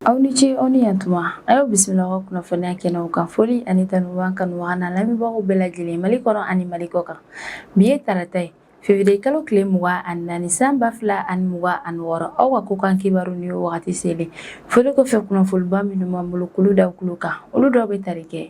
aw ni ce aw ni yantuma a y'aw bisimila aw ka kunnafoniya kɛnɛw kan foli ani tanu b'an kanubaga n'an lamɛnbagaw bɛɛ lajɛlen mali kɔnɔ ani mali kɔkan bi ye tarata ye fevriye kalo tile mugan ani naani san ba fila ani mugan ani wɔɔrɔ aw ka kɔkan kibaru ni y'o wagati selen Foli kɔfɛ kunnafoniba minnu b'an bolo k'olu da kulo kan olu dɔw bɛ tali kɛ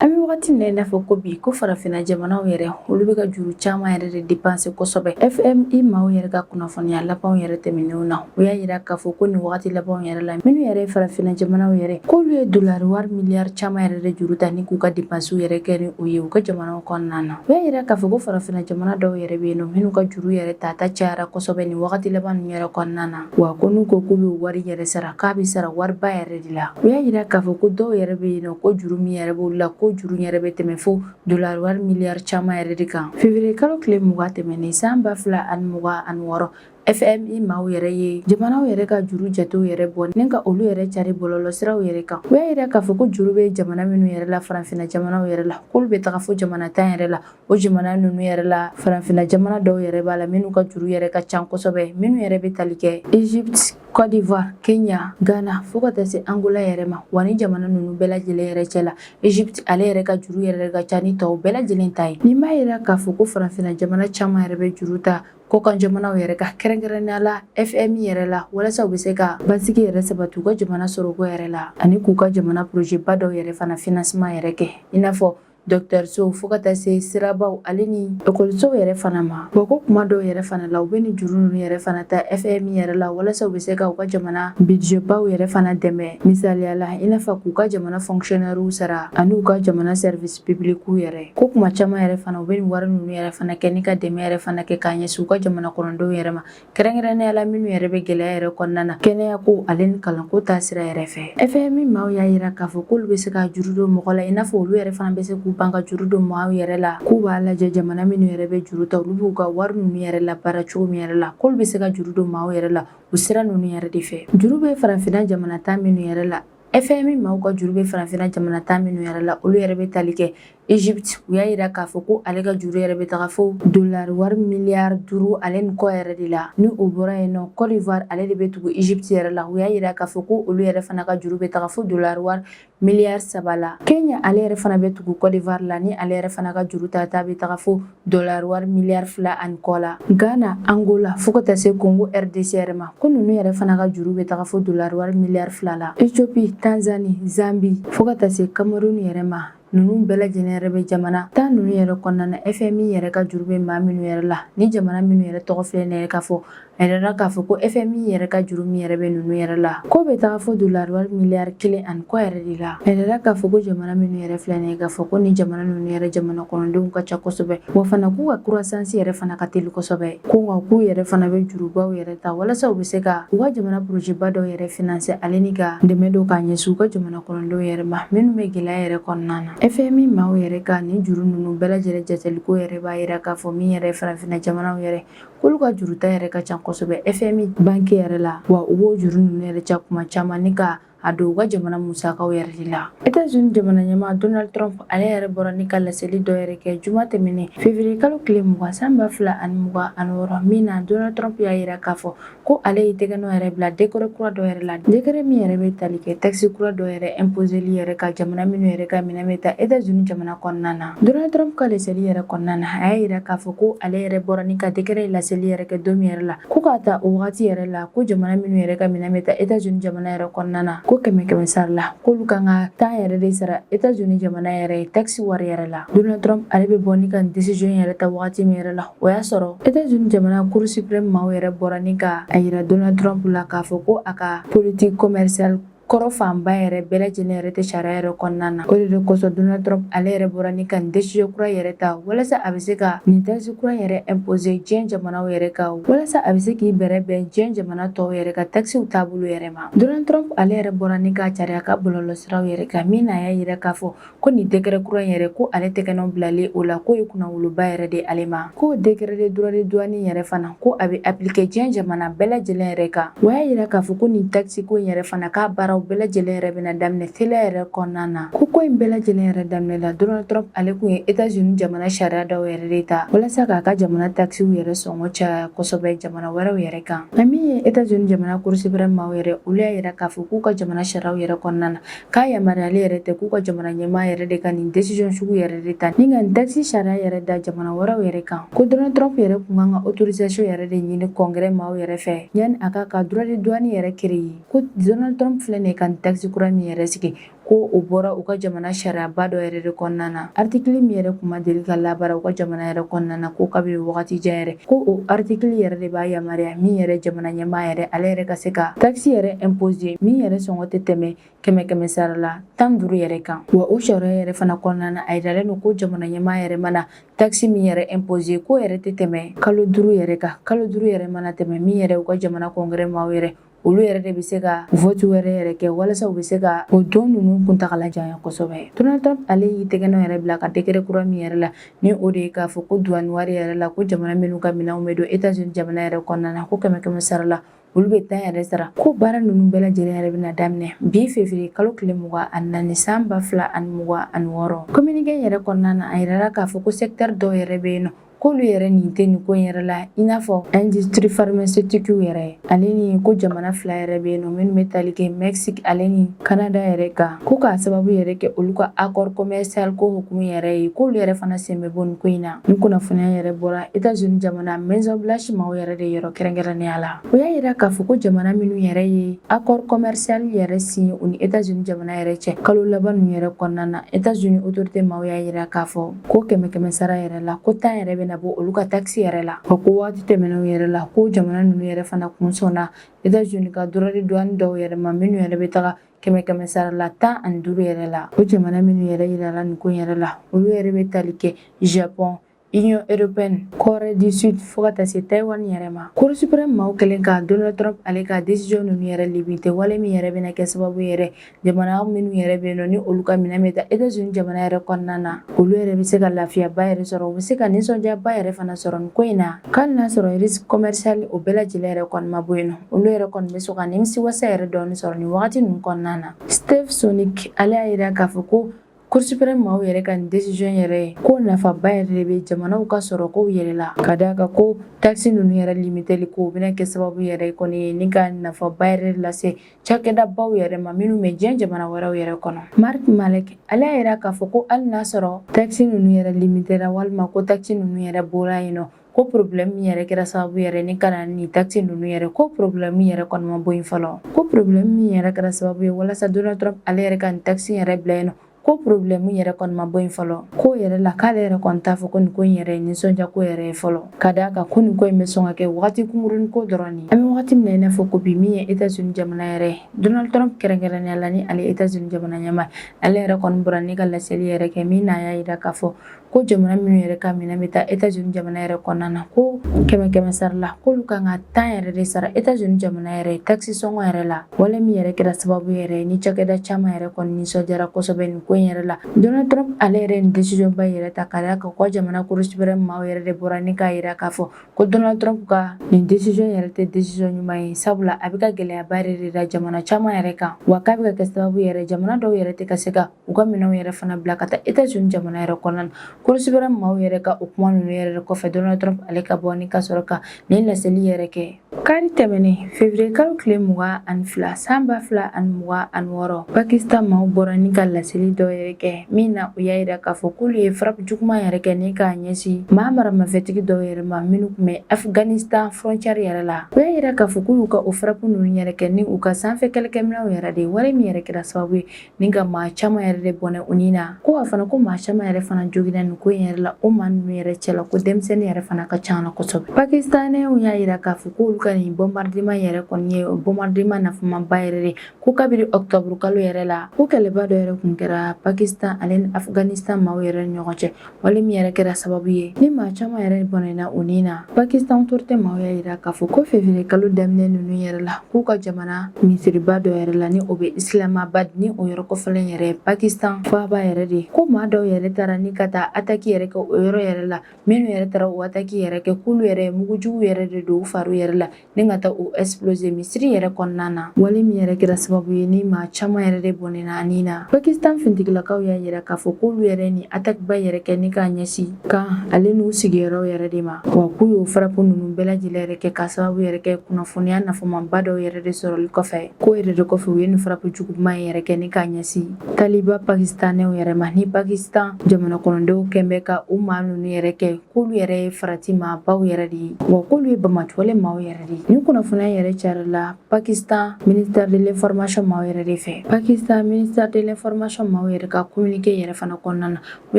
an bɛ wagati min na i n'a fɔ ko bi ko farafinna jamanaw yɛrɛ olu bɛ ka juru caman yɛrɛ de depanse kosɛbɛ fmi maaw yɛrɛ ka kunnafoniya labanw yɛrɛ tɛmɛnenw na u y'a yira k'a fɔ ko nin wagati labanw yɛrɛ la minnu yɛrɛ ye farafinna jamanaw yɛrɛ k'olu ye dolari wari miliyari caman yɛrɛ de juru ta ni k'u ka depansiw yɛrɛ kɛ ni u ye u ka jamanaw kɔnɔna na U y'a yira k'a fɔ ko farafinna jamana dɔw yɛrɛ bɛ yen nɔ minnu ka juru yɛrɛ tata cayara kosɛbɛ nin wagati laban ninnu yɛrɛ kɔnɔna na wa ko n'u ko k'u bɛ wari yɛrɛ sara k'a bɛ sara wariba yɛrɛ de la u y'a yira k'a fɔ ko dɔw yɛrɛ bɛ yen nɔ ko juru min yɛrɛ b'olu la ko juru yɛrɛ bɛ tɛmɛ fo dolari wari miliyari caman yɛrɛ de kan fevriye kalo tile mugan tɛmɛnen san ba fila ani mugan ani wɔɔrɔ FMI maaw yɛrɛ ye jamanaw yɛrɛ ka juru jatew yɛrɛ bɔ ni ka olu yɛrɛ cari bɔlɔlɔsiraw yɛrɛ kan u y'a yira k'a fɔ ko juru bɛ jamana minnu yɛrɛ la farafinna jamanaw yɛrɛ la k'olu bɛ taga fo jamana tan yɛrɛ la o jamana ninnu yɛrɛ la farafinna jamana dɔw yɛrɛ b'a la minnu ka juru yɛrɛ ka ca kosɛbɛ minnu yɛrɛ bɛ tali kɛ Egypte Côte d'Ivoire, Kenya, Ghana fo ka taa se Angola yɛrɛ ma wa ni jamana ninnu bɛɛ lajɛlen yɛrɛ cɛ la Egypte ale yɛrɛ ka juru yɛrɛ ka ca ni tɔw bɛɛ lajɛlen ta ye nin b'a yira k'a fɔ ko farafinna jamana caman yɛrɛ bɛ juru ta Kɔkan jamanaw yɛrɛ ka kɛrɛnkɛrɛnnenya la fmi yɛrɛ la walasa u bɛ se ka basigi yɛrɛ sabati u ka jamana sɔrɔko yɛrɛ la ani k'u ka jamana projet ba dɔw yɛrɛ fana financement yɛrɛ kɛ i n'a fɔ dɔkitɛrisow fo ka taa se sirabaw ale ni ekɔlisow yɛrɛ fana ma wa ko kuma dɔw yɛrɛ fana la u bɛ nin juru ninnu yɛrɛ fana ta fmi yɛrɛ la walasa u bɛ se ka u ka jamana budget baw yɛrɛ fana dɛmɛ misaliya la i n'a fɔ k'u ka jamana fonctionnairew sara ani u ka jamana service publicw yɛrɛ ko kuma caman yɛrɛ fana u bɛ nin wari ninnu yɛrɛ fana kɛ ni ka dɛmɛ yɛrɛ fana kɛ k'a ɲɛsin u ka jamana kɔnɔdenw yɛrɛ ma kɛrɛnkɛrɛnnenya la minnu yɛrɛ bɛ gɛlɛya yɛrɛ kɔnɔna na kɛnɛyako ale ni kalanko ta sira yɛrɛ fɛ fmi maaw y'a yira k'a fɔ k'olu bɛ se ka juru don mɔgɔ la i n'a fɔ olu yɛrɛ fana bɛ se k'u ban ka juru don maaw yɛrɛ la k'u b'a lajɛ jamana minnu yɛrɛ bɛ juru ta olu b'u ka wari ninnu yɛrɛ labaara cogo min yɛrɛ la k'olu bɛ se ka juru don maaw yɛrɛ la o sira ninnu yɛrɛ de fɛ juru bɛ farafinna jamana tan minnu yɛrɛ la FMI maaw ka juru bɛ farafinna jamana tan minnu yɛrɛ la olu yɛrɛ bɛ tali kɛ Egypte u y'a yira k'a fɔ ko ale ka juru yɛrɛ bɛ taga fo dolari wari miliyari duuru ale ni kɔ yɛrɛ de la ni o bɔra yen nɔ Côte d'Ivoire ale de bɛ tugu Egypte yɛrɛ la u y'a yira k'a fɔ ko olu yɛrɛ fana ka juru bɛ taga fo dolari wari miliyari saba la Kenya ale yɛrɛ fana bɛ tugu Côte d'Ivoire la ni ale yɛrɛ fana ka juru tata bɛ taga fo dɔlar wari miliyari fila ani kɔ la ghana angola fo ka taa se kongo rdc yɛrɛ ma ko ninnu yɛrɛ fana ka juru bɛ taga fo dɔlar wari miliyari fila la ethiopie tanzani zambi fo ka taa se kamerun yɛrɛ ma ninnu bɛɛ lajɛlen yɛrɛ bɛ jamana tan ninnu yɛrɛ kɔnɔna na fmi yɛrɛ ka juru bɛ maa minnu yɛrɛ la ni jamana minnu yɛrɛ tɔgɔ filɛ nin ye k'a fɔ A yirala k'a fɔ ko FMI yɛrɛ ka juru min yɛrɛ bɛ ninnu yɛrɛ la ko bɛ taga fo dolari wari miliyari kelen ani kɔ yɛrɛ de la a yirala k'a fɔ ko jamana minnu yɛrɛ filɛ nin ye k'a fɔ ko nin jamana ninnu yɛrɛ jamana kɔnɔdenw ka ca kosɛbɛ wa fana k'u ka croissance yɛrɛ fana ka teli kosɛbɛ ko nka k'u yɛrɛ fana bɛ jurubaw yɛrɛ ta walasa u bɛ se ka u ka jamana porojeba dɔw yɛrɛ finanse ale ni ka dɛmɛ don ka ɲɛsin u ka jamana kɔnɔdenw yɛrɛ ma minnu bɛ gɛlɛya yɛrɛ kɔnɔna na FMI maaw yɛrɛ ka nin juru ninnu bɛɛ lajɛlen jateliko yɛrɛ b'a yira k'a fɔ min yɛrɛ farafinna jamanaw yɛrɛ K'olu ka juruta yɛrɛ ka ca kosɛbɛ FMI banque yɛrɛ la wa u b'o juru ninnu yɛrɛ ca kuma caman ni ka a don u ka jamana musakaw yɛrɛ de la Etats-Unis jamana ɲɛmaa Donald Trump ale yɛrɛ bɔra ni ka laseli dɔ yɛrɛ kɛ juma tɛmɛnen février kalo tile mugan san ba fila ani mugan ani wɔɔrɔ min na Donald Trump y'a yira k'a fɔ ko ale ye tɛgɛ nɔ yɛrɛ bila dekɛrɛ kura dɔ yɛrɛ la dekɛrɛ min yɛrɛ bɛ tali kɛ takisi kura dɔ yɛrɛ ɛnpozeli yɛrɛ kan jamana minnu yɛrɛ ka minɛn bɛ taa etazuni jamana kɔnɔna na donald trump ka laseli yɛrɛ kɔnɔna na a y'a yira k'a fɔ ko ale yɛrɛ bɔra ni ka dekɛrɛ in laseli yɛrɛ kɛ don min yɛrɛ la ko k'a ta o wagati yɛrɛ la ko jamana minnu yɛrɛ ka minɛn bɛ taa etazuni jamana yɛrɛ kɔnɔna na ko kɛmɛ kɛmɛ sara la k'olu kan ka tan yɛrɛ de sara etazuni jamana yɛrɛ ye takisi wari yɛrɛ la donald trump ale bɛ bɔ ni ka desiziyɔn yɛrɛ ta wagati min yɛrɛ la O y'a sɔrɔ Etats-Unis jamana Cour suprême maaw yɛrɛ bɔra ni ka a yira Donald Trump la k'a fɔ ko a ka politique commerciale kɔrɔ fanba yɛrɛ bɛɛ lajɛlen yɛrɛ tɛ sariya yɛrɛ kɔnɔna na o de de kosɔn donald trump ale yɛrɛ bɔra ni ka nin desiziyɔn kura yɛrɛ ta walasa a bɛ se ka nin takisi kura yɛrɛ impose diɲɛ jamanaw yɛrɛ kan walasa a bɛ se k'i bɛrɛ bɛn diɲɛ jamana tɔw yɛrɛ ka takisiw taabolo yɛrɛ ma donald trump ale yɛrɛ bɔra ni ka cari a ka bɔlɔlɔsiraw yɛrɛ kan min na a y'a yira k'a fɔ ko nin dekɛrɛ kura in yɛrɛ ko ale tɛgɛnɔ bilalen o la k'o ye kunnawoloba yɛrɛ de ale ma k'o dekɛrɛ de droit de douane yɛrɛ fana ko a bɛ apilike diɲɛ jamana bɛɛ lajɛlen yɛrɛ kan o y'a yira k'a fɔ ko nin takisiko in yɛrɛ fana k'a baaraw bɛɛ lajɛlen yɛrɛ bɛna daminɛ teliya yɛrɛ kɔnɔna na ko ko in bɛɛ lajɛlen yɛrɛ daminɛ la donald trump ale kun ye etazuni jamana sariya dɔw yɛrɛ de ta walasa k'a ka jamana takisiw yɛrɛ sɔngɔ caya kosɛbɛ jamana wɛrɛw yɛrɛ kan nka min ye etazuni jamana cour suprême maaw yɛrɛ olu y'a yira k'a fɔ k'u ka jamana sariyaw yɛrɛ kɔnɔna na k'a yamaruyalen yɛrɛ tɛ k'u ka jamana ɲɛmaa yɛrɛ de ka nin desiziyɔn sugu yɛrɛ de ta ni ka nin takisi sariya yɛrɛ da jamana wɛrɛw yɛrɛ kan ko donald trump yɛrɛ kun kan ka otorizasiyɔn yɛrɛ de ɲini kɔngɛrɛ maaw yɛrɛ fɛ yanni a ka ka droit de douane yɛrɛ kereye ko donald trump filɛ nin ye ka nin takisi kura min yɛrɛ sigi ko o bɔra u ka jamana sariyaba dɔ yɛrɛ de kɔnɔna na aritikili min yɛrɛ kun ma deli ka labaara u ka jamana yɛrɛ kɔnɔna na ko kabini wagati jan yɛrɛ Ko o article yɛrɛ de b'a yamaruya min yɛrɛ jamana ɲɛmaa yɛrɛ ale yɛrɛ ka se ka takisi yɛrɛ imposer min yɛrɛ sɔngɔ tɛ tɛmɛ kɛmɛ kɛmɛ sara la tan duuru yɛrɛ kan wa o sariya yɛrɛ fana kɔnɔna na a yiralen don ko jamana ɲɛmaa yɛrɛ mana takisi min yɛrɛ imposer ko yɛrɛ tɛ tɛmɛ kalo duuru yɛrɛ kan kalo duuru yɛrɛ mana tɛmɛ min yɛrɛ u ka jamana congrès maaw yɛrɛ olu yɛrɛ de bɛ se ka vote wɛrɛ yɛrɛ kɛ walasa u bɛ se ka o don ninnu kuntagala janya kosɛbɛ Donald Trump ale y'i tɛgɛnɔ yɛrɛ bila ka décret kura min yɛrɛ la ni o de ye k'a fɔ ko duwani wari yɛrɛ la ko jamana minnu ka minɛnw bɛ don Etats-Unis jamana yɛrɛ kɔnɔna na ko kɛmɛ kɛmɛ sara la olu bɛ tan yɛrɛ sara ko baara ninnu bɛɛ lajɛlen yɛrɛ bɛna daminɛ bi février kalo tile mugan ani naani san ba fila ani mugan ani wɔɔrɔ communiqué yɛrɛ kɔnɔna na a yirala k'a fɔ ko secteur dɔw yɛrɛ bɛ yen nɔ k'olu yɛrɛ nin tɛ nin ko in yɛrɛ la i n'a fɔ industrie pharmaceutique yɛrɛ ale ni ko jamana fila yɛrɛ bɛ yen nɔ minnu bɛ tali kɛ mexique ale ni canada yɛrɛ kan ko k'a sababu yɛrɛ kɛ olu ka accord commercial ko hukumu yɛrɛ ye k'olu yɛrɛ fana sen bɛ bɔ nin ko in na nin kunnafoniya yɛrɛ bɔra états unis jamana maison blanche maaw yɛrɛ de yɔrɔ kɛrɛnkɛrɛnnenya la o y'a yira k'a fɔ ko jamana minnu yɛrɛ ye accord commercial yɛrɛ signé u ni états unis jamana yɛrɛ cɛ kalo laban ninnu yɛrɛ kɔnɔna na états unis autorité maaw y'a yira k'a fɔ ko kɛmɛ kɛmɛ sara yɛrɛ la ko tan yɛrɛ bɛna bɔ olu ka takisi yɛrɛ la ko waati tɛmɛnenw yɛrɛ la ko jamana ninnu yɛrɛ fana kun sɔnna etats-unis ka droit de douane dɔw yɛrɛ ma minnu yɛrɛ bɛ taga kɛmɛ kɛmɛ sara la tan ani duuru yɛrɛ la o jamana minnu yɛrɛ yirala nin ko yɛrɛ la olu yɛrɛ bɛ tali kɛ japɔn Union européenne, Corée du Sud fo ka taa se Taïwan yɛrɛ ma. Cour suprême maaw kɛlen ka Donald Trump ale ka décision ninnu yɛrɛ limiter wale min yɛrɛ bɛna kɛ sababu yɛrɛ jamana minnu yɛrɛ bɛ yen nɔ ni olu ka minɛn bɛ taa etats unis jamana yɛrɛ kɔnɔna na olu yɛrɛ bɛ se ka lafiyaba yɛrɛ sɔrɔ u bɛ se ka nisɔndiyaba yɛrɛ fana sɔrɔ nin ko in na hali n'a sɔrɔ risque commercial o bɛɛ lajɛlen yɛrɛ kɔni ma bɔ yen nɔ olu yɛrɛ kɔni bɛ sɔn ka nimisiwasa yɛrɛ dɔɔni sɔrɔ nin wagati ninnu kɔnɔna na Steve Sosnick ale y'a yira k'a fɔ ko Cour suprême maaw yɛrɛ ka nin décision yɛrɛ ye ko nafaba yɛrɛ de bɛ jamanaw ka sɔrɔ kow yɛrɛ la ka d'a kan ko takisi ninnu yɛrɛ limiteli ko o bɛna kɛ sababu yɛrɛ kɔni ye ni ka nafaba yɛrɛ lase cakɛdabaw yɛrɛ ma minnu bɛ diɲɛ jamana wɛrɛw yɛrɛ kɔnɔ Mark Malek ale y'a yira k'a fɔ ko hali n'a sɔrɔ takisi ninnu yɛrɛ limitera walima ko takisi ninnu yɛrɛ bɔra yen nɔ ko problème min yɛrɛ kɛra sababu yɛrɛ ni ka na ni takisi ninnu yɛrɛ ko problème yɛrɛ kɔni ma bɔ yen fɔlɔ ko problème min yɛrɛ kɛra sababu ye walasa donald trump ale yɛrɛ ka nin takisi yɛrɛ bila yen nɔ ko problème yɛrɛ kɔni ma bɔ yen fɔlɔ ko yɛrɛ la k'ale yɛrɛ kɔni t'a fɔ ko nin ko in yɛrɛ ye nisɔndiya ko yɛrɛ ye fɔlɔ ka d'a kan ko nin ko in bɛ sɔn ka kɛ wagati kunkurunnin ko dɔrɔn ye an bɛ wagati min na i n'a fɔ ko bi min ye etats unis jamana yɛrɛ ye donald trump kɛrɛnkɛrɛnnenya la ni ale etats unis jamana ɲɛmaa ale yɛrɛ kɔni bɔra ni ka laseli yɛrɛ kɛ min na a y'a yira k'a fɔ ko jamana minnu yɛrɛ ka minɛn bɛ taa états-unis jamana yɛrɛ kɔnɔna na ko kɛmɛ kɛmɛ sara la k'olu kan ka tan yɛrɛ de sara états-unis jamana yɛrɛ takisi sɔngɔ yɛrɛ la wale min yɛrɛ kɛra sababu yɛrɛ ni cakɛda caman yɛrɛ kɔni nisɔndiyara kosɛbɛ nin ko in yɛrɛ la donald trump ale yɛrɛ nin décision ba yɛrɛ ta ka d'a kan ko jamana cour suprême maaw yɛrɛ de bɔra ni k'a yira k'a fɔ ko donald trump ka nin décision yɛrɛ tɛ décision ɲuman ye sabula a bɛ ka gɛlɛyaba yɛrɛ de da jamana caman yɛrɛ kan wa k'a bɛ ka kɛ sababu yɛrɛ jamana dɔw yɛrɛ tɛ ka se ka u ka minɛnw yɛrɛ fana bila ka taa états-unis jamana yɛrɛ kɔnɔna na cour suprême maaw yɛrɛ ka o kuma ninnu yɛrɛ kɔfɛ donald trump ale ka bɔ ni ka sɔrɔ ka nin laseli yɛrɛ kɛ kari tɛmɛnen février kalo tile mugan ani fila san ba fila ani mugan ani wɔɔrɔ pakistan maaw bɔra ni ka laseli dɔ yɛrɛ kɛ min na u y'a yira k'a fɔ k'olu ye frappe juguman yɛrɛ kɛ ni k'a ɲɛsin maa maramafɛntigi dɔw yɛrɛ ma minnu tun bɛ afghanistan frontière yɛrɛ la u y'a yira k'a fɔ k'u y'u ka o frappe ninnu yɛrɛ kɛ ni u ka sanfɛ kɛlɛkɛminɛnw yɛrɛ de ye wale min yɛrɛ kɛra sababu ye Ni ka maa caman yɛrɛ de bɔnɛ u ni na. Ko wa fana ko maa caman yɛrɛ fana joginna nin ko in yɛrɛ la, o maa ninnu yɛrɛ cɛ la ko denmisɛnnin yɛrɛ fana ka ca la kosɛbɛ. Pakistanɛw y'a yira k'a fɔ k'olu ka nin bombardement yɛrɛ kɔni ye bombardement nafamaba yɛrɛ de ko kabini octobre kalo yɛrɛ la, ko kɛlɛba dɔ yɛrɛ kun kɛra Pakistan ale ni Afghanistan maaw yɛrɛ ni ɲɔgɔn cɛ. wale min yɛrɛ kɛra sababu ye ni maa caman yɛrɛ bɔnɛna u ni na pakistan autorité maaw y'a yira k'a fɔ ko février kalo daminɛ nunu yɛrɛ la k'u ka jamana misiriba dɔ yɛrɛ la ni o bɛ islamabad ni o yɔrɔ kofɔlen yɛrɛ pakistan faaba yɛrɛ de ko maa dɔw yɛrɛ taara ni ka taa attaque yɛrɛ kɛ o yɔrɔ yɛrɛ la minnu yɛrɛ taara o attaque yɛrɛ kɛ k'olu yɛrɛ mugujugu yɛrɛ de don u fariw yɛrɛ la ni ka taa o exploser misiri yɛrɛ kɔnɔna na wale min yɛrɛ kɛra sababu ye ni maa caman yɛrɛ de bɔnɛna a ni na pakistan fintigilakaw y'a yira k'a fɔ k'olu yɛrɛ nin attaque ba yɛrɛ kɛ ni k'a ɲɛsi camp ale n'u sigiyɔrɔw yɛrɛ de ma wa k'u y'o frappe ninnu bɛɛ lajɛlen yɛrɛ kɛ k'a sababu yɛrɛ kɛ kunnafoniya nafamaba dɔw yɛrɛ de sɔrɔli kɔfɛ k'o yɛrɛ de kɔfɛ u ye nin frappe juguman yɛrɛ kɛ ni k'a ɲɛsi taliban pakistanɛw yɛrɛ ma ni pakistan jamana kɔnɔdenw kɔni bɛ ka o maa ninnu yɛrɛ kɛ k'olu yɛrɛ ye farati maabaw yɛrɛ de ye wa k'olu ye bamatɔlen maaw yɛrɛ de ye nin kunnafoniya yɛrɛ carila pakistan ministère de l'information maaw yɛrɛ de fɛ pakistan ministère de l'information maaw yɛrɛ ka communiqué yɛrɛ fana kɔnɔna na u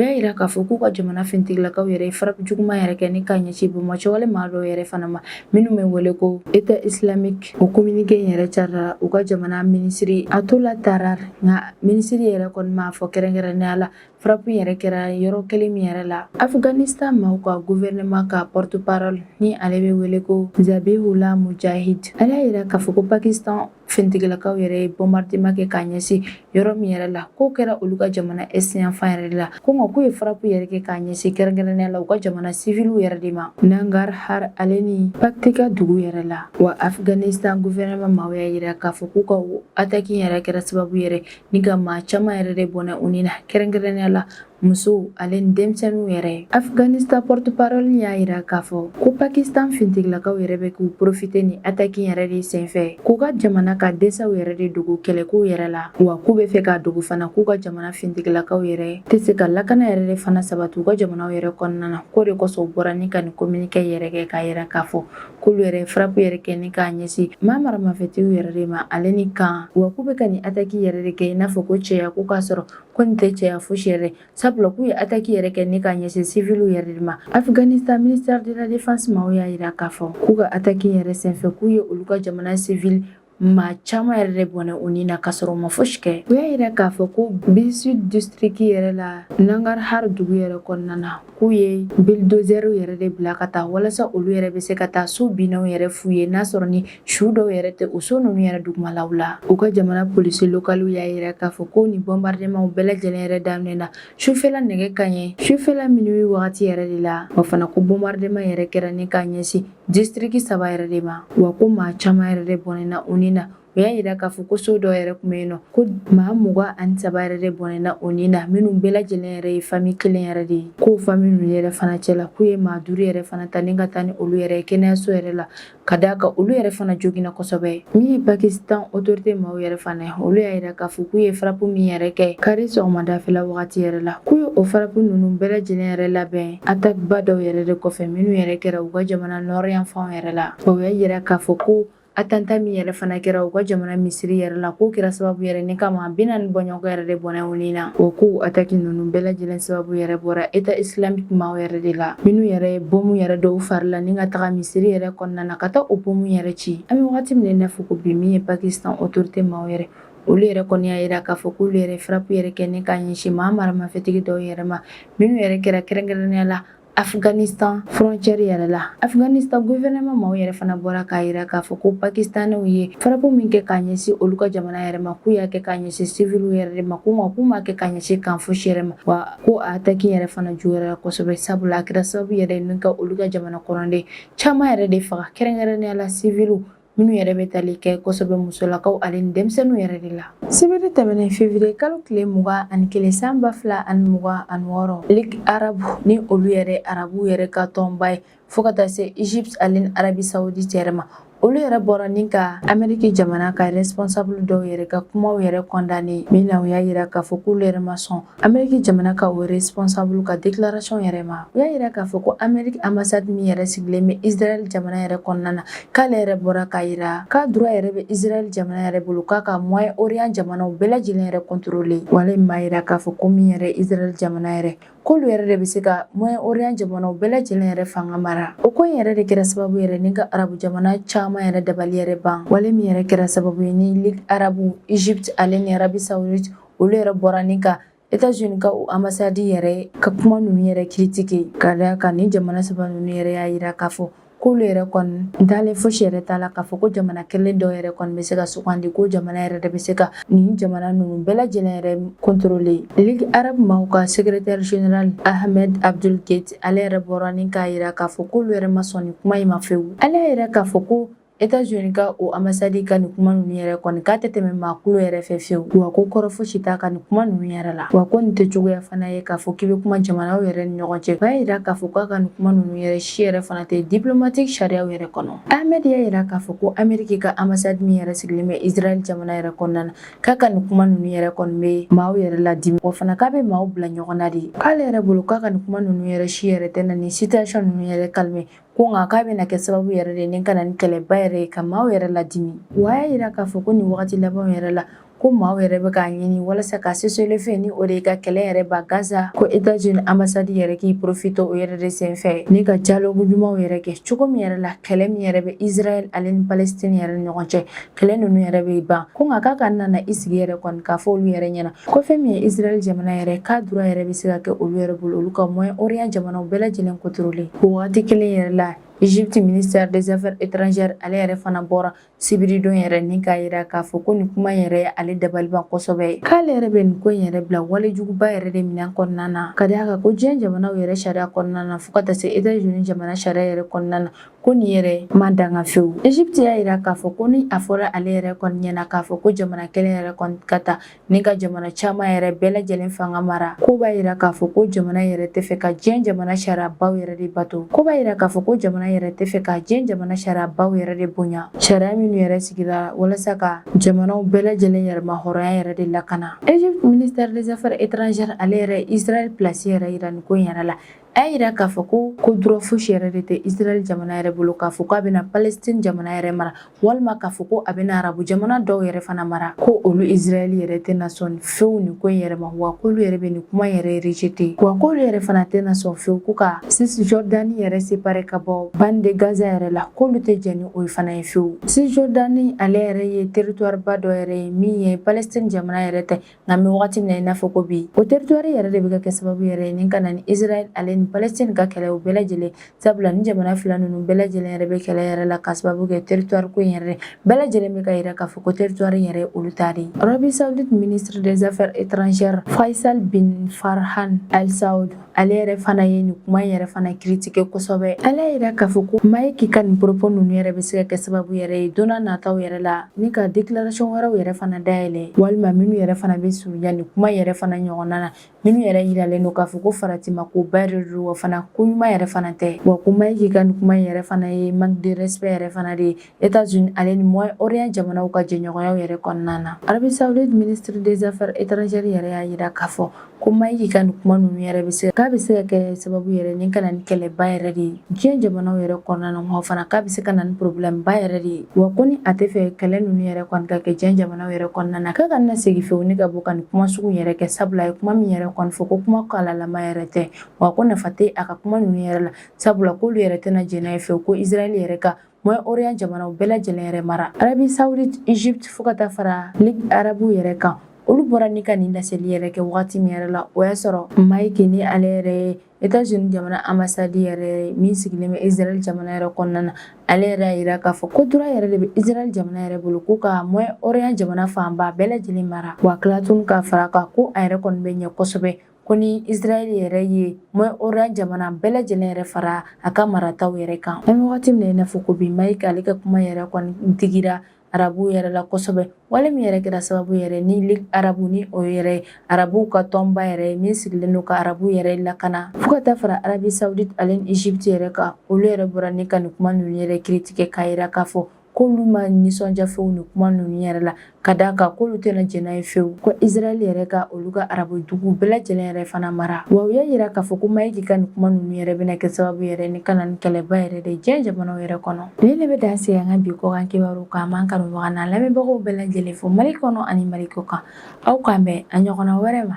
y'a yira k'a fɔ k'u ka jamana fintigilakaw yɛrɛ ye frappe juguman yɛrɛ kɛ ni k'a ɲɛsin bamatɔwale maa dɔw yɛrɛ fana ma minnu bɛ wele ko état islamique o communiqué yɛrɛ carila u ka jamana minisiri attaullah tarar nka minisiri yɛrɛ kɔni m'a fɔ kɛrɛnkɛrɛnnenya la Frappe yɛrɛ kɛra yɔrɔ kelen min yɛrɛ la afghanistan maaw ka gouvernement ka porte-parole ni ale bɛ wele ko zabihullah mujahid ale y'a yira k'a fɔ ko pakistan fintigilakaw yɛrɛ ye bombardement kɛ k'a ɲɛsin yɔrɔ min yɛrɛ la k'o kɛra olu ka jamana est yanfan yɛrɛ de la ko nka k'u ye frappe yɛrɛ kɛ k'a ɲɛsin kɛrɛnkɛrɛnnenya la u ka jamana siviliw yɛrɛ de ma nangarhar ale ni paktika dugu yɛrɛ la wa afghanistan gouvernement maaw y'a yira k'a fɔ k'u ka attaque yɛrɛ kɛra sababu yɛrɛ Ni ka maa caman yɛrɛ de bɔnɛ u ni na kɛrɛnkɛrɛnnenya la musow ale ni denmisɛnninw yɛrɛ afghanistan porte-parole y'a yira k'a fɔ ko pakistan fintigilakaw yɛrɛ bɛ k'u profite ni ataki yɛrɛ de senfɛ k'u ka jamana ka desaw yɛrɛ de dogo kɛlɛkow yɛrɛ la wa k'u bɛ fɛ k'a dogo fana k'u ka jamana fintigilakaw yɛrɛ tɛ se ka lakana yɛrɛ de fana sabati u ka jamanaw yɛrɛ kɔnɔna na k'o de kosɔn u bɔra ni ka nin kominikɛ yɛrɛ kɛ k'a yira k'a fɔ k'olu yɛrɛ frappe yɛrɛ kɛ ni k'a ɲɛsin maa maramafɛtigiw yɛrɛ de ma ale ni kan wa k'u bɛ ka nin ataki yɛrɛ de kɛ i n'a fɔ ko cɛya ko k'a sɔrɔ ko nin tɛ cɛya fosi yɛrɛ sabula k'u ye ataki yɛrɛ kɛ ni k'a ɲɛsin siviliw yɛrɛ de ma afghanistan ministère de la défense maaw y'a yira k'a fɔ k'u ka ataki yɛrɛ senfɛ k'u ye olu ka jamana sivili Maa caman yɛrɛ de bɔnɛ u ni na k'a sɔrɔ u ma fosi kɛ u y'a yira k'a fɔ ko Behsud district yɛrɛ la Nangarhar dugu yɛrɛ kɔnɔna na k'u ye bilidozɛriw yɛrɛ de bila ka taa walasa olu yɛrɛ bɛ se ka taa so binnaw yɛrɛ fuye n'a sɔrɔ ni su dɔw yɛrɛ tɛ o so ninnu yɛrɛ dugumalaw la u ka jamana polisi lokaliw y'a yira k'a fɔ ko nin bɔnbaridemanw bɛɛ lajɛlen yɛrɛ daminɛna sufɛla nɛgɛ kaɲɛ sufɛla minuwi wagati yɛrɛ de la wa fana ko bɔnbarideman yɛrɛ kɛra ni k'a ɲɛsin Distriki saba yɛrɛ de ma wa ko maa caman yɛrɛ de bɔnɛna u ni na u y'a yira k'a fɔ ko so dɔ yɛrɛ tun bɛ yen nɔ ko maa mugan ani saba yɛrɛ de bɔnɛna u ni na minnu bɛɛ lajɛlen yɛrɛ ye fami kelen yɛrɛ de ye k'o fami ninnu yɛrɛ fana cɛ la k'u ye maa duuru yɛrɛ fana ta ni ka taa ni olu yɛrɛ kɛnɛyaso yɛrɛ la ka d'a kan olu yɛrɛ fana joginna kosɛbɛ min ye pakistan otorite maaw yɛrɛ fana ye olu y'a yira k'a fɔ k'u ye frappe min yɛrɛ kɛ kari sɔgɔmadafɛla wagati yɛrɛ la k'u ye o frappe ninnu bɛɛ lajɛlen yɛrɛ labɛn Ataki ba dɔw yɛrɛ de kɔfɛ minnu yɛrɛ kɛra u ka jamana nɔri yanfanw yɛrɛ la o y'a yira k'a fɔ ko atanta min yɛrɛ fana kɛra u ka jamana misiri yɛrɛ la k'o kɛra sababu yɛrɛ ni ka maa binaani bɔɲɔgɔn yɛrɛ de bɔnɛ u ni na o ko ataki ninnu bɛɛ lajɛlen sababu yɛrɛ bɔra État islamique maaw yɛrɛ de la minnu yɛrɛ ye bomu yɛrɛ don u fari la ni ka taga misiri yɛrɛ kɔnɔna na ka taa o bomu yɛrɛ ci an bɛ wagati min na i n'a fɔ ko bi min ye pakistan otorite maaw yɛrɛ olu yɛrɛ kɔni y'a yira k'a fɔ k'olu yɛrɛ frappe yɛrɛ kɛ ni k'a ɲɛsin maa maramafɛntigi dɔw yɛrɛ ma minnu yɛrɛ kɛra kɛrɛnkɛrɛnnenya la Afghanistan frontière yɛrɛ la Afghanistan gouvernement maaw yɛrɛ fana bɔra k'a yira k'a fɔ ko pakistanɛw ye frappe min kɛ k'a ɲɛsin olu ka jamana yɛrɛ ma k'u y'a kɛ k'a ɲɛsin siviliw yɛrɛ de ma k'u ma k'u m'a kɛ k'a ɲɛsin kan fosi yɛrɛ ma wa ko a ataki yɛrɛ fana juguyara kosɛbɛ sabula a kɛra sababu yɛrɛ ni ka olu ka jamana kɔnɔden caman yɛrɛ de faga kɛrɛnkɛrɛnnenya la siviliw Minnu yɛrɛ bɛ tali kɛ kosɛbɛ musolakaw ale ni denmisɛnninw yɛrɛ de la sibiri tɛmɛnen février kalo tile mugan ani kelen san ba fila ani mugan ani wɔɔrɔ Ligue arabe ni olu yɛrɛ arabuw yɛrɛ ka tɔnba ye fo ka taa se Egypte ale ni Arabie Saoudite yɛrɛ ma olu yɛrɛ bɔra ni ka amɛriki jamana ka responsable dɔw yɛrɛ ka kumaw yɛrɛ kɔndane min na u y'a yira k'a fɔ k'olu yɛrɛ ma sɔn Ameriki jamana ka o responsable ka déclaration yɛrɛ ma u y'a yira k'a fɔ ko Ameriki ambassade min yɛrɛ sigilen bɛ Israel jamana yɛrɛ kɔnɔna na k'ale yɛrɛ bɔra k'a yira k'a droit yɛrɛ bɛ Israel jamana yɛrɛ bolo k'a ka Moyen Orient jamanaw bɛɛ lajɛlen yɛrɛ contrôler wale min b'a yira k'a fɔ ko min yɛrɛ Israel jamana yɛrɛ k'olu yɛrɛ de bɛ se ka Moyen Orient jamanaw bɛɛ lajɛlen yɛrɛ fanga mara o ko in yɛrɛ de kɛra sababu yɛrɛ ni ka arabu jamana caman yɛrɛ dabali yɛrɛ ban wale min yɛrɛ kɛra sababu ye ni Ligue arabu Egypte ale ni Arabie Saoudite olu yɛrɛ bɔra ni ka Etats-Unis ka o ambassade yɛrɛ ka kuma ninnu yɛrɛ critiquer ka d'a kan ni jamana saba ninnu yɛrɛ y'a yira k'a fɔ k'olu yɛrɛ kɔni dalen fosi yɛrɛ t'a la k'a fɔ ko jamana kelen dɔ yɛrɛ kɔni bɛ se ka sugandi ko jamana yɛrɛ de bɛ se ka nin jamana ninnu bɛɛ lajɛlen yɛrɛ contrôler ligue arabe maaw ka secrétaire général ahmed abdul gheit ale yɛrɛ bɔra ni k'a yira k'a fɔ k'olu yɛrɛ ma sɔn nin kuma in ma fewu ale y'a yira k'a fɔ ko Etats-Unis ka o ambassade ka nin kuma ninnu yɛrɛ kɔni k'a tɛ tɛmɛ maa kulo yɛrɛ fɛ fewu wa ko kɔrɔ fosi t'a ka nin kuma ninnu yɛrɛ la wa ko nin tɛ cogoya fana ye k'a fɔ k'i bɛ kuma jamanaw yɛrɛ ni ɲɔgɔn cɛ y'a yira k'a fɔ k'a ka nin kuma ninnu yɛrɛ si yɛrɛ fana tɛ diplomatique sariyaw yɛrɛ kɔnɔ ahmed y'a yira k'a fɔ ko ameriki ka ambassade min yɛrɛ sigilen bɛ israɛl jamana yɛrɛ kɔnɔna na k'a ka nin kuma ninnu yɛrɛ kɔni bɛ maaw yɛrɛ ladimi wa fana k'a bɛ maaw bila ɲɔgɔn na de k'ale yɛrɛ bolo k'a ka nin kuma ninnu yɛrɛ si yɛrɛ tɛ na nin situation ninnu yɛrɛ calmer ko nka k'a bɛna kɛ sababu yɛrɛ de ni ka na ni kɛlɛba yɛrɛ ye ka maaw yɛrɛ ladimi wa a y'a yira k'a fɔ ko nin wagati labanw yɛrɛ la ko maaw yɛrɛ bɛ k'a ɲini walasa ka cessez-le-feu ni o de ye ka kɛlɛ yɛrɛ ban Gaza ko Etats-Unis ambassade yɛrɛ k'i profiter o yɛrɛ de senfɛ ni ka dialogue ɲumanw yɛrɛ kɛ cogo min yɛrɛ la kɛlɛ min yɛrɛ bɛ Israɛl ale ni Palestine yɛrɛ ɲɔgɔn cɛ kɛlɛ ninnu yɛrɛ bɛ ban ko nka k'a kana na i sigi yɛrɛ kɔni k'a fɔ olu yɛrɛ ɲɛna ko fɛn min ye israɛl jamana yɛrɛ k'a droit yɛrɛ bɛ se ka kɛ olu yɛrɛ bolo olu ka moyen orient jamanaw bɛɛ lajɛlen contrôler o wagati kelen yɛrɛ la Egypte ministère des affaires étrangères ale yɛrɛ fana bɔra sibiridon yɛrɛ ni k'a yira k'a fɔ ko nin kuma yɛrɛ ye ale dabaliban kosɛbɛ k'ale yɛrɛ bɛ nin ko in yɛrɛ bila wale juguba yɛrɛ de minɛn kɔnɔna na ka d'a kan ko diɲɛ jamanaw yɛrɛ sariya kɔnɔna na fɔɔ ka taa se Etats-Unis jamana sariya yɛrɛ kɔnɔna na ko nin yɛrɛ ma daga fewu egypte y'a yira k'a fɔ ko ni a fɔra ale yɛrɛ kɔni ɲɛna k'a fɔ ko jamana kelen yɛrɛ kɔni ka ta ni ka jamana caman yɛrɛ bɛɛ lajɛlen fanga mara ko b'a yira k'a fɔ ko jamana yɛrɛ tɛ fɛ ka diɲɛ jamana sariyabaw yɛrɛ de bato ko b'a yira k'a fɔ ko jamana yɛrɛ tɛ fɛ ka diɲɛ jamana sariyabaw yɛrɛ de bonya sariya minnu yɛrɛ sigira walasa ka jamanaw bɛɛ lajɛlen yɛrɛma hɔrɔnya yɛrɛ de lakana egypte ministère des affaires étrangères ale yɛrɛ israel place yɛrɛ yira nin ko in yɛrɛ la A y'a yira k'a fɔ ko ko droit fosi yɛrɛ de tɛ Israɛl jamana yɛrɛ bolo k'a fɔ ko a bɛna Palestine jamana yɛrɛ mara walima k'a fɔ ko a bɛna arabu jamana dɔw yɛrɛ fana mara ko olu Israɛl yɛrɛ tɛna sɔn fewu nin ko in yɛrɛ ma wa k'olu yɛrɛ bɛ nin kuma yɛrɛ rejeter wa k'olu yɛrɛ fana tɛna sɔn fewu ko ka Cisjordanie yɛrɛ séparer ka bɔ bande de Gaza yɛrɛ la k'olu tɛ jɛn ni o ye fana ye fewu Cisjordanie ale yɛrɛ ye territoire ba dɔ yɛrɛ ye min ye Palestine jamana yɛrɛ tɛ Nka an bɛ wagati min na i n'a fɔ ko bi o territoire yɛrɛ de bɛ ka kɛ sababu yɛrɛ ye ni ka na ni Israël ale ni Palestine ka kɛlɛ o bɛɛ lajɛlen sabula ni jamana fila ninnu bɛɛ lajɛlen yɛrɛ bɛ kɛlɛ yɛrɛ la ka sababu kɛ territoire ko in yɛrɛ bɛɛ lajɛlen bɛ k'a yira k'a fɔ ko territoire yɛrɛ ye olu ta de ye Arabie Saoudite ministre des Affaires étrangères Faisal bin Farhan Al Saoud ale yɛrɛ fana ye nin kuma in yɛrɛ fana critiquer kosɛbɛ ale y'a yira k'a fɔ ko Mike ka nin propos ninnu yɛrɛ bɛ se ka kɛ sababu yɛrɛ ye don na nataw yɛrɛ la ni ka déclaration wɛrɛw yɛrɛ fana dayɛlɛ walima minnu yɛrɛ fana bɛ surunya nin kuma yɛrɛ fana ɲɔgɔnna na minnu yɛrɛ yiralen don k'a fɔ ko faratima ko ba de don wa fana ko ɲuman yɛrɛ fana tɛ wa ko Mike ka nin kuma in yɛrɛ fana ye manque de respect yɛrɛ fana de ye États-Unis ale ni Moyen-Orient jamanaw ka jɛɲɔgɔnyaw yɛrɛ kɔnɔna na. Arabie Saoudite ministre des Affaires étrangères yɛrɛ y'a jira k'a fɔ ko Mike ka nin kuma ninnu yɛrɛ bɛ se k'a bɛ se ka kɛ sababu yɛrɛ ni ka na ni kɛlɛba yɛrɛ de ye diɲɛ jamanaw yɛrɛ kɔnɔna na wa fana k'a bɛ se ka na ni problème ba yɛrɛ de ye wa ko ni a tɛ fɛ kɛlɛ ninnu yɛrɛ kɔni ka kɛ diɲɛ jamanaw yɛrɛ kɔnɔna na k'a kana segin fewu ni ka bɔ ka nin kuma sugu yɛrɛ kɛ sabula a ye kuma min yɛrɛ kɔni fɔ ko kuma kɔlɔlama yɛrɛ tɛ wa ko nafa tɛ a ka kuma ninnu yɛrɛ la sabula k'olu yɛrɛ tɛna jɛn n'a ye fewu ko Israël yɛrɛ ka Moyen-Orient jamanaw bɛɛ lajɛlen yɛrɛ mara Arabie Saoudite Égypte fo ka taa fara Ligue arabu yɛrɛ kan olu bɔra ni ka nin laseli yɛrɛ kɛ waati min yɛrɛ la o y'a sɔrɔ Mike ni ale yɛrɛ ye États-Unis jamana ambassade yɛrɛ min sigilen bɛ Israël jamana yɛrɛ kɔnɔna na ale yɛrɛ y'a jira k'a fɔ ko droit yɛrɛ de bɛ Israël jamana yɛrɛ bolo ko ka Moyen-Orient jamana fanba bɛɛ lajɛlen mara wa ka tila tugun k'a fara kan ko a yɛrɛ kɔni bɛ ɲɛ kosɛbɛ ko ni Israël yɛrɛ ye Moyen-Orient jamana bɛɛ lajɛlen yɛrɛ fara a ka marataw yɛrɛ kan. An bɛ wagati min na i n'a fɔ ko bi, Mike ale ka kuma yɛrɛ kɔni digira arabuw yɛrɛ la kosɛbɛ, wale min yɛrɛ kɛra sababu yɛrɛ ni Ligue arabu ni o yɛrɛ ye arabuw ka tɔnba yɛrɛ ye min sigilen don ka arabuw yɛrɛ lakana. Fo ka taa fara Arabie Saoudite ale ni Égypte yɛrɛ kan, olu yɛrɛ bɔra ni ka nin kuma ninnu yɛrɛ critiquer k'a jira k'a fɔ k'olu ma nisɔndiya fewu nin kuma ninnu yɛrɛ la ka d'a kan k'olu tɛna jɛn n'a ye fewu ko Israël yɛrɛ ka olu ka arabu dugu bɛɛ lajɛlen yɛrɛ fana mara wa u y'a jira k'a fɔ ko Mike ka nin kuma ninnu yɛrɛ bɛna kɛ sababu yɛrɛ ni ka na ni kɛlɛba yɛrɛ de diɲɛ jamanaw yɛrɛ kɔnɔ nin de bɛ dan sigi an ka bi kɔkan kibaru kan n b'an kanubaga n'an lamɛnbagaw bɛɛ lajɛlen fo Mali kɔnɔ ani Mali kɔ kan aw k'an bɛn a ɲɔgɔnna wɛrɛ ma